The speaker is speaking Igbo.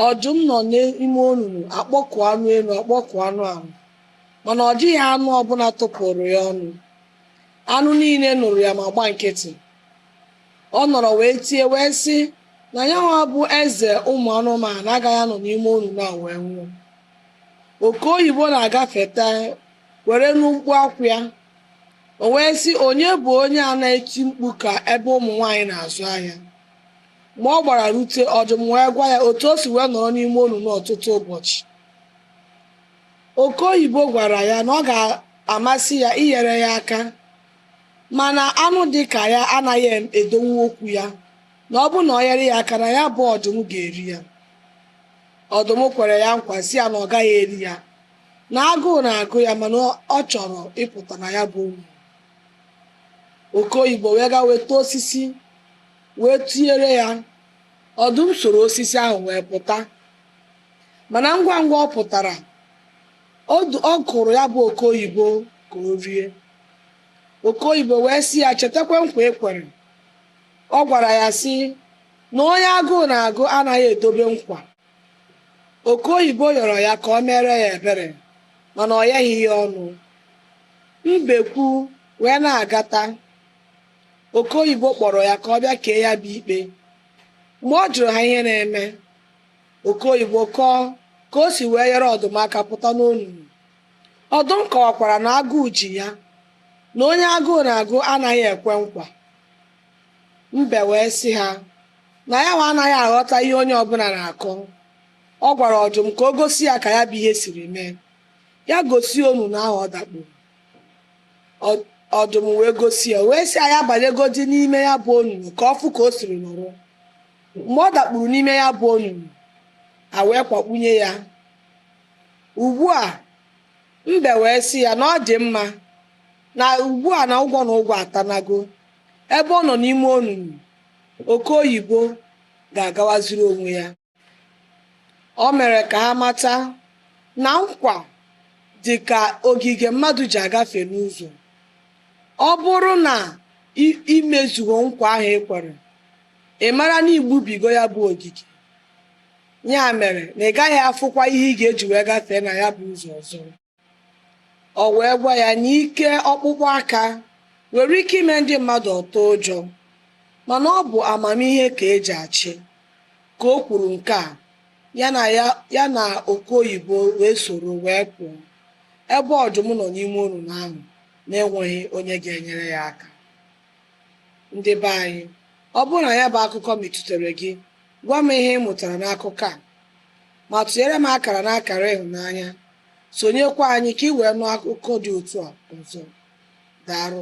Ọdụm nọ n'ime onunu akpọkụ anụ elu akpọkụ anụ ala mana ọ dịghị anụ ọbụla tụpụrụ ya ọnụ. Anụ niile nụrụ ya ma gba nkịtị. Ọ nọrọ wee tie wee sị na yanwa bụ eze ụmụ anụmanụ agaghị anọ n'ime onunu a wee nwụọ. Oke oyibo na-agafeta were nụ mkpu akwa ya. O wee sị onye bụ onye a na-eti mkpu ka ebe ụmụ nwaanyị na-azụ ahịa? Ma ọ gbara rute ọdụm wee gwa ya otu o si wee nọrọ n'ime onunu ọtụtụ ụbọchị. Oke oyibo gwara ya na ọ ga-amasị ya inyere ya aka mana anụ dị ka ya anaghị edonwu okwu ya na ọ bụrụ na ọ nyere ya aka na ya bụ ọdụm ga-eri ya. Ọdụm kwere ya nkwa sị ya na ọ gaghị eri ya, na agụụ na-agụ ya mana ọ chọrọ ịpụta na ya bụ onunu. oke oyibo wee gaa weta osisi wee tinyere ya ọdụm soro osisi ahụ wee pụta mana ngwa ngwa ọ pụtara ọdụ- ọ kpụrụ ya bụ oke oyibo ka o rie oke oyibo wee sị ya chetakwa nkwa i kwere ọ gwara ya sị na onye agụụ na-agụ anaghị edobe nkwa oke oyibo yọrọ ya ka ọ meere ya ebere mana ọ yaghị ya ọnụ Mbekwu wee na-agata, Oke oyibo kpọrọ ya ka ọ bịa kpee ya bụ ikpe. Mgbe ọ jụrụ ha ihe na-eme, Oke oyibo kọọ ka o si wee nyere ọdụm aka pụta n'onunu. Ọdụm kọwakwara na agụụ ji ya, na onye agụụ na-agụ anaghị ekwe nkwa. Mbe wee sị ha na yanwa anaghị aghọta ihe onye ọbụla na-akọ. Ọ gwara ọdụm ka o gosi ya ka ya bụ ihe siri mee. ya gosi onunu ahụ ọ dakpuru ọdụm wee gosi ya wee sị ya banyegodi n'ime ya bụ onunu ka ọ fụ ka o siri nọrọ mgbe ọ dakpuru n'ime ya bụ onunu a wee kwakpunye ya ugbu a mbe wee sị ya na ọ dị mma na ugbu a na ụgwọ na ụgwọ atanago ebe ọ nọ n'ime onunu oke oyibo ga-agawaziri onwe ya O mere ka ha mata na nkwa dị ka ogige mmadụ ji agafe n'ụzọ. Ọ bụrụ na i mezughị nkwa ahụ e kwere, ị mara na i gbubigo ya bụ ogige. Ya mere na ị gaghị afụkwa ihe ị ga-eji wee gafee na ya bụ ụzọ ọzọ. O wee gwa ya na ike ọkpụkpụ aka nwere ike ime ndị mmadụ atụọ ụjọ, mana ọ bụ amamihe ka e ji achị. Ka o kwuru nke a, ya na ya ya na oke oyibo wee soro wee pụọ, ebe ọdụm nọ n'ime onunu ahụ na-enweghị onye ga-enyere ya aka. ndị be anyị ọ bụrụ na ya bụ akụkọ metụtara gị gwa m ihe ị mụtara n'akụkọ a ma tụnyere m akara na akara ịhụnanya sonyekwa anyị ka ị wee nụ akụkọ dị otu a ọzọ daarụ